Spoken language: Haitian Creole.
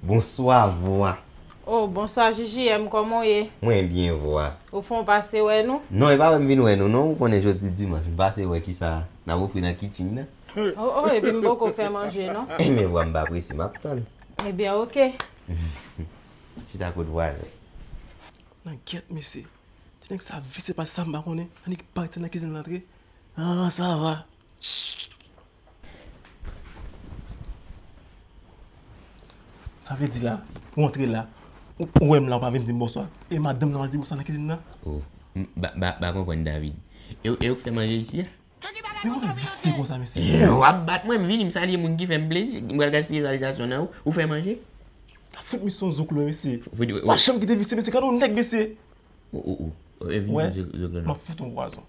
Bonswa vwa. Oh bonswa JJM koman w ye? Mwen byen vwa. Ou fon pase wè nou? Non e pa wè m vin wè nou non ou konnen jodi dimanch m pase wè kisa n ap ofri nan kitchin nan. Oh oh epi m poko fè manje non. Eh men vwa m pa prese m ap tann. Ebyen ok. Chita kot vwazen. Nan gyèt mesye. Ti nèg sa visye pa sa m pa konnen. Annik pare ti nan kizin lan antre. Ahh sa va. Sa vle di la, ou antre la, ou wè m la ou pa vin di m bonswa, e madanm lan al di bonswa nan kizin nan? O, m pa konprann David. E ou k fè manje isi a? Men ou vin visye konsa mesye? E ou ap bat mwen, m vini m salye moun ki fè m plezi, m pral gaspiye salitasyon nan ou, ou fè manje? Tap fout misye yon zoklo mesye. Ou pa janm kite visye mesye, gade yon nèg mesye! O, o, o, vin yon zoklo nan ou. Wè, m ap fout ou yon pwazon.